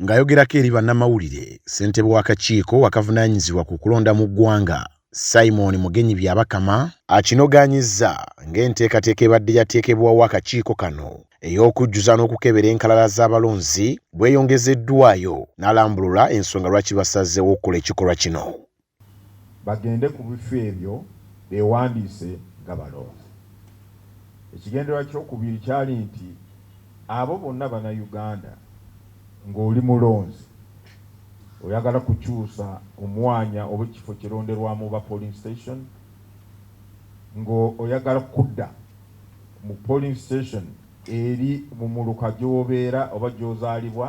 Ng'ayogerako eri bannamawulire, ssentebe w'akakiiko akavunaanyizibwa ku kulonda mu ggwanga, Simon Mugenyi Byabakama akinogaanyizza ng'enteekateeka ebadde yateekebwawo akakiiko kano ey'okujjuza n'okukebera enkalala z'abalonzi bweyongezeddwaayo n'alambulula ensonga lwaki basazeewo okukola ekikolwa kino. bagende ku bifo ebyo beewandiise nga balonzi. Ekigendererwa ky'okubiri kyali nti abo bonna Bannayuganda ng'oli mulonzi oyagala kukyusa omwanya oba ekifo kironderwamu oba polling station ng'oyagala kudda mu polling station eri mu muluka gy'obeera oba gy'ozaalibwa,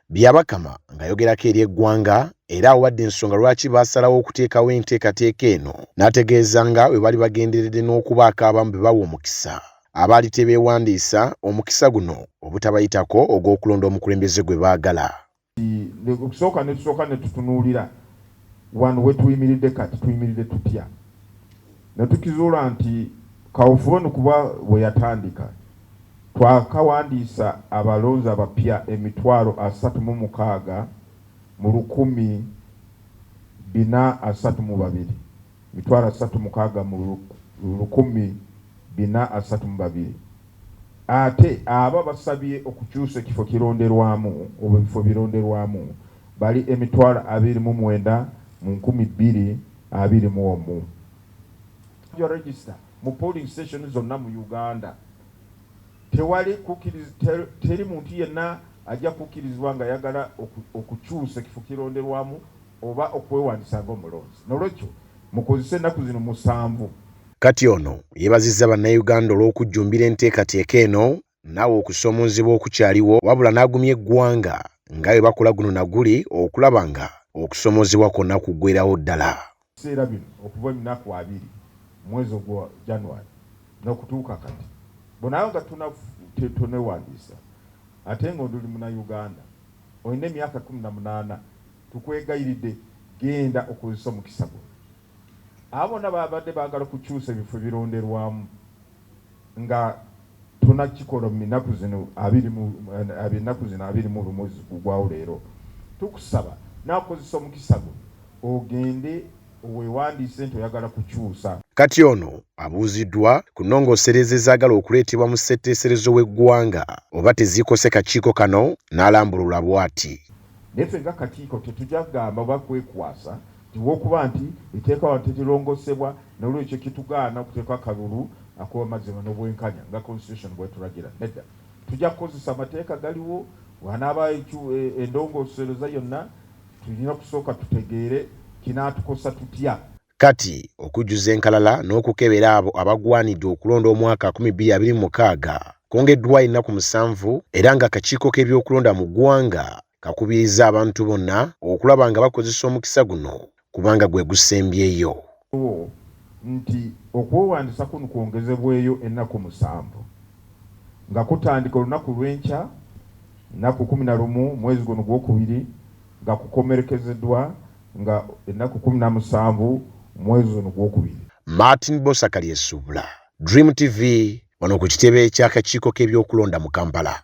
Byabakama ng'ayogerako eri eggwanga era awadde ensonga lwaki baasalawo okuteekawo enteekateeka eno n'ategeeza nga bwe bali bagenderedde n'okubaako abamu be bawa omukisa abaali tebeewandiisa omukisa guno obutabayitako ogw'okulonda omukulembeze gwe baagala. Okusooka ne tusooka ne tutunuulira Wano we tuyimiridde kati, tuyimiridde tutya? Ne tukizuula nti kaweefube ono kuba we yatandika, twakawandiisa abalonzi abapya emitwalo asatu mu mukaaga mu lukumi bina asatu mu babiri. mitwalo asatu mukaaga mu lukumi bina asatu mu babiri ate abo abasabye okukyusa ekifo kironderwamu oba ebifo bironderwamu bali emitwalo abiri mu mwenda mu nkumi bbiri abiri mu omu. Your register mu polling station zonna mu Uganda tewali kukiriz teri muntu yenna ajja kukirizibwa nga yagala okukyusa ekifo kironderwamu oba okwewandisa nga omulonzi nolwekyo mukozese ennaku zino musanvu. Kati ono yebazizza bannayuganda olw'okujjumbira enteekateeka eno naawa okusoomoozebwa okukyaliwo wabula n'agumya eggwanga nga bwe bakola guno na guli okulaba nga okusoomoozebwa kwonna kuggwerawo ddala. biseera bino okuva ennaku abiri mwezi ogwa January n'okutuuka kati bw'onaaba nga tonewandiisa ate nga oli munayuganda olina emyaka kkumi na munaana, Tukwegayiridde genda okozese omukisa guno. Abo bonna ababadde baagala okukyusa ebifo ebironderwamu nga tonakikola mu ennaku zino abiri mu ennaku zino abiri mu lumu eziguggwawo leero, tukusaba naawe kozesa omukisa guno ogende wewandiise nti oyagala kukyusa. Kati ono abuuziddwa ku nnongoosereza ezaagala okuleetebwa mu ssetteeserezo w'eggwanga oba tezikose kakiiko kano n'alambulula bwati. Naye ffe nga kakiiko tetugya kugamba oba kwekwasa nti olw'okuba nti etteeka wano terilongosebwa n'olwekyo kitugaana okuteeka akalulu ak'obamazima n'obwenkanya nga Constitution bw'etulagira. Nedda. Tujja kukozesa amateeka galiwo. Wanaaba endongoosereza yonna tulina kusooka tutegeere kinaatukosa tutya. Kati okujjuza enkalala n'okukebera abo abagwanidde okulonda omwaka 2026 kwongeddwa ennaku musanvu era ng'akakiiko k'ebyokulonda mu ggwanga kakubirizza abantu bonna okulaba nga bakozesa omukisa guno kubanga gwe gusembyeyo. nti okwewandisa kun kwongezebweyo ennaku musanvu nga kutandika olunaku lw'enkya nnaku kumi na lumu mwezi guno gwokubiri nga kukomerekezeddwa nga ennaku kkumi na musanvu mwezi ono gwokubiri. Martin Bbosa Kalyesubula, Dream TV, wano ku kitebe ky'akakiiko k'ebyokulonda mu Kampala.